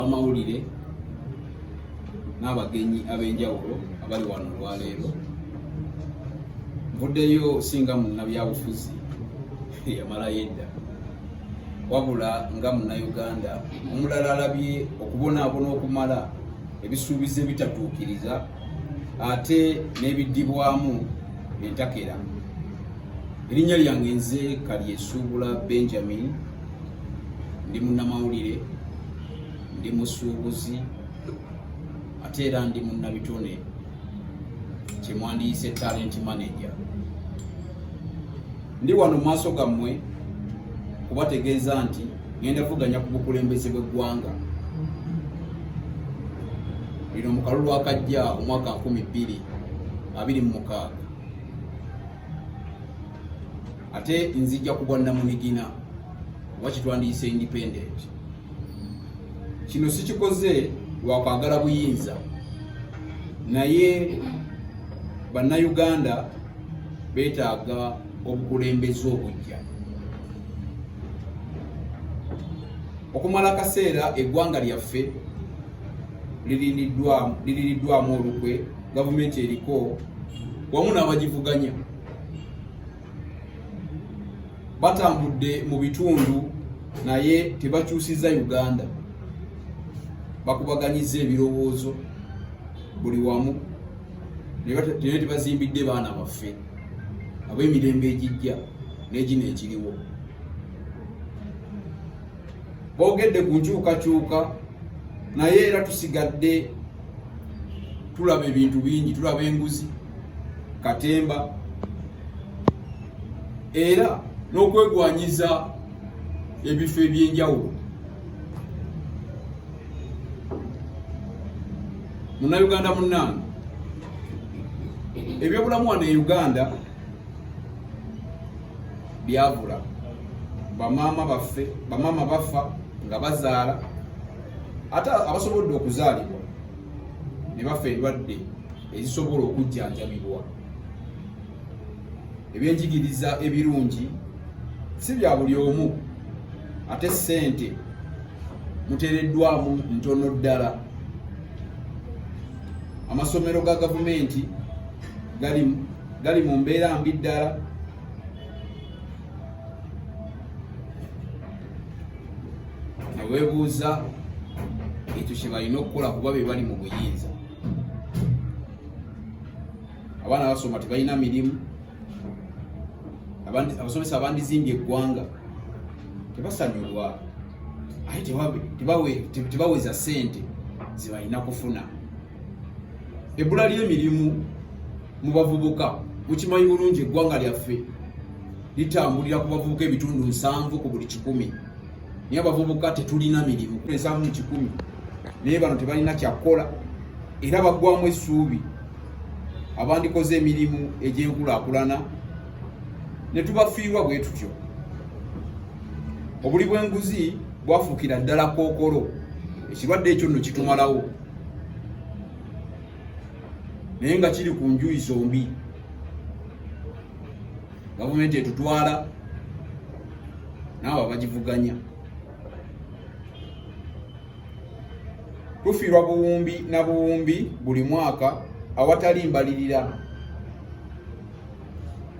amawulire n'abagenyi ab'enjawulo abali wano olwaleero nvuddeyo singa munnabyabufuzi eyamalayo edda wabula nga munnayuganda omulala alabye okubonaabona okumala ebisuubizo ebitatuukiriza ate n'ebiddibwamu entakera erinnya lyange nze kalyesuubula benjamin ndi munnamawulire ndi musuubuzi ate era ndi munnabitone kyemwandiyise talent manager ndi wano mu maaso gammwe kubategeeza nti ngenda vuganya ku bukulembeze bw'eggwanga lino mu kalulu akajja omwaka 2 2 mu mukaaga ate nzijja kubwa namunigina oba kitwandiyise independent kino sikikoze lwakwagala buyinza naye bannayuganda betaaga obukulembeze obujja okumala akaseera eggwanga lyaffe liririddwamu olukwe gavumenti eriko wamu n'abagivuganya batambudde mu bitundu naye tebakyusizza uganda bakubaganyiza ebirowoozo buli wamu naye tebazimbidde baana baffe ab'emirembe egijja n'egino ekiriwo boogedde ku nkyukakyuka naye era tusigadde tulaba ebintu bingi tulaba enguzi katemba era n'okwegwanyiza ebifo ebyenjawulo munauganda munange ebyobulamu wano e uganda byabula bamaama baffe bamaama bafa nga bazaala ate abasobodde okuzaalibwa ne bafa endwadde ezisobola okujjanjabibwa ebyenjigiriza ebirungi si bya buli omu ate ssente muteereddwamu ntono ddala amasomero ga gavumenti gali mu mbeera mbi ddala newebuuza ekyo kyebalina okukola kuba bebali mu buyinza abaana basoma tebalina mirimu abasomesa abandizimbye eggwanga tebasanyulwa ate tebaweza sente zebalina kufuna ebbula ly'emirimu mu bavubuka mukimanyi bulungi eggwanga lyaffe litambulira ku bavubuka ebitundu nsanvu ku buli kikumi naye abavubuka tetulina mirimu ensanvu mu kikumi naye bano tebalina kyakukola era baggwamu essuubi abandikoze emirimu egy'enkulaakulana ne tubafiirwa bwe tutyo obuli bw'enguzi bwafuukira ddala kookolo ekirwadde ekyo nno kitumalawo naye nga kiri ku njuyi zombi gavumenti etutwala naawe abagivuganya tufiirwa buwumbi na buwumbi buli mwaka awatali mbalirira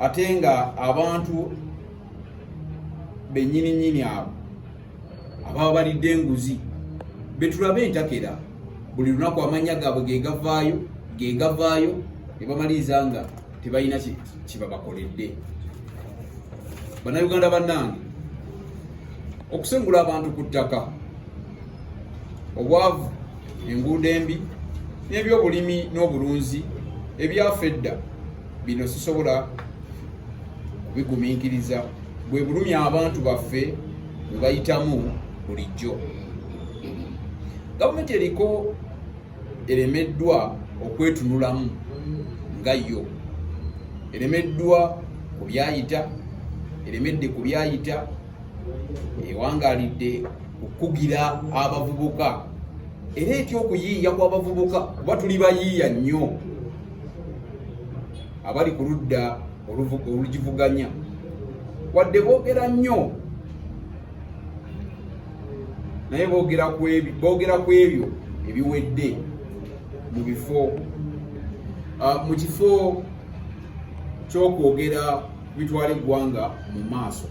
ate nga abantu benyini nyini abo ababa balidde enguzi betulabe entakera buli lunaku amanya gaabwe gegavaayo gegavaayo ne bamaliriza nga tebalina kyebabakoledde bannayuganda bannange okusengula abantu ku ttaka obwavu enguudo embi n'ebyobulimi n'obulunzi ebyafa edda bino sisobola bigumiikiriza bwe bulumi abantu baffe bwe bayitamu bulijjo gavumenti eriko eremeddwa okwetunulamu nga yo eremeddwa ku byayita eremedde ku byayita ewangalidde okukugira abavubuka era etya okuyiiya kw'abavubuka kuba tuli bayiiya nnyo abali ku ludda olugivuganya wadde boogera nnyo naye boogera ku ebyo ebiwedde mu bifo ah, mu kifo ky'okwogera bitwala eggwanga mu maaso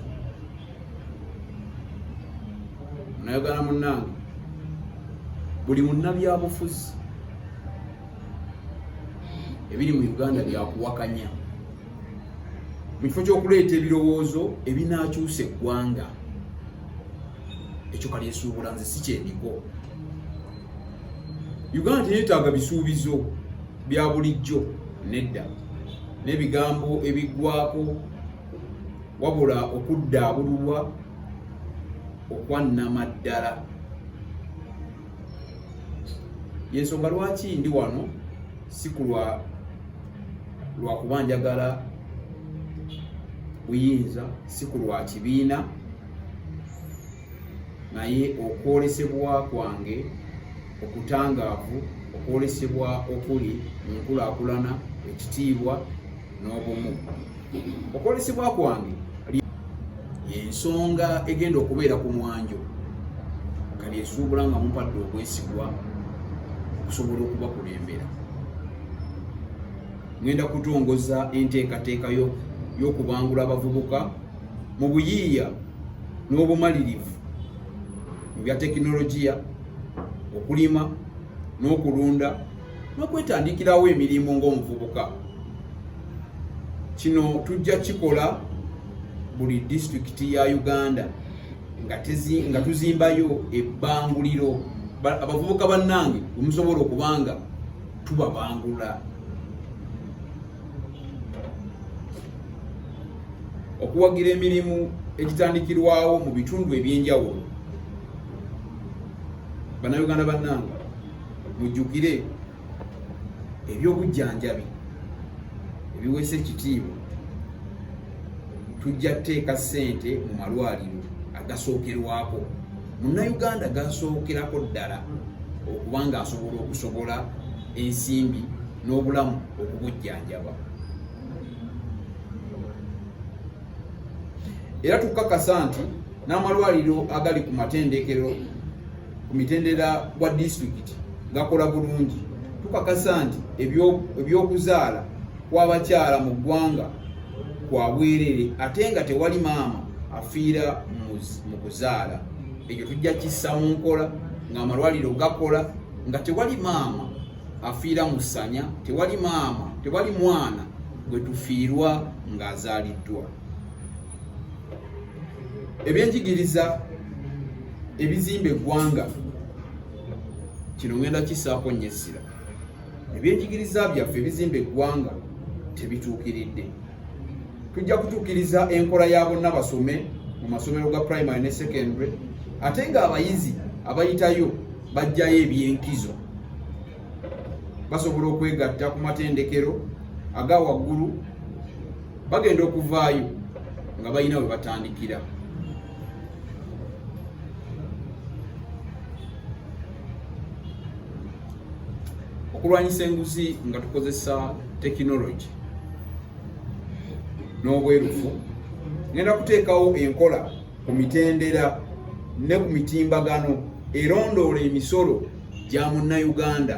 nayogana munnange buli munnabyabufuzi ebiri mu uganda byakuwakanya mu kifo kyokuleeta ebirowoozo ebinakyusa eggwanga ekyo kalyesuubula nze si kyendiko uganda teyetaaga bisuubizo bya bulijjo nedda n'ebigambo ebiggwako wabula okuddaabululwa okwannama ddala yensonga lwaki ndi wano sikulwa lwakuba njagala buyinza sikulwa kibiina naye okwolesebwa kwange okutangaavu okwolesebwa okuli mu nkulakulana ekitiibwa n'obumu okwolesebwa kwange yensonga egenda okubeera ku mwanjo kali esuubula nga mumpadde okwesigwa okusobola okubakulembera ngenda kutongoza enteekateeka y'okubangula abavubuka mu buyiiya n'obumalirivu mu bya tekinologiya okulima n'okulunda n'okwetandikirawo emirimu ng'omuvubuka kino tujja kikola buli disitulikiti ya uganda nga tuzimbayo ebbanguliro abavubuka bannange wemusobola okubanga tubabangula okuwagira emirimu egitandikirwawo mu bitundu ebyenjawulo bannayuganda bannange mujjukire ebyobujjanjabi ebiweesa ekitiibwa tujja kuteeka ssente mu malwaliro agasookerwako munnayuganda gasookerako ddala okuba nga asobola okusobola ensimbi n'obulamu okubujjanjaba era tukakasa nti n'amalwaliro agali ku matendekero ku mitendera gwa disitulikiti gakola bulungi tukakasa nti ebyokuzaala kw'abakyala mu ggwanga kwa bwerere ate nga tewali maama afiira mu kuzaala ekyo tujja kissa mu nkola ng'amalwaliro gakola nga tewali maama afiira mu ssanya tewali maama tewali mwana gwe tufiirwa ng'azaaliddwa ebyenjigiriza ebizimba eggwanga kino ngenda kisaako nnyo essira ebyenjigiriza byaffe ebizimba eggwanga tebituukiridde tujja kutuukiriza enkola ya bonna basome mu masomero ga primary ne secondary ate ng'abayizi abayitayo bajjayo ebyenkizo basobola okwegatta ku matendekero aga waggulu bagenda okuvaayo nga balina we batandikira okulwanyisa enguzi nga tukozesa tekinologi n'obwerufu ngenda kuteekawo enkola ku mitendera ne ku mitimbagano erondoola emisolo gya munnayuganda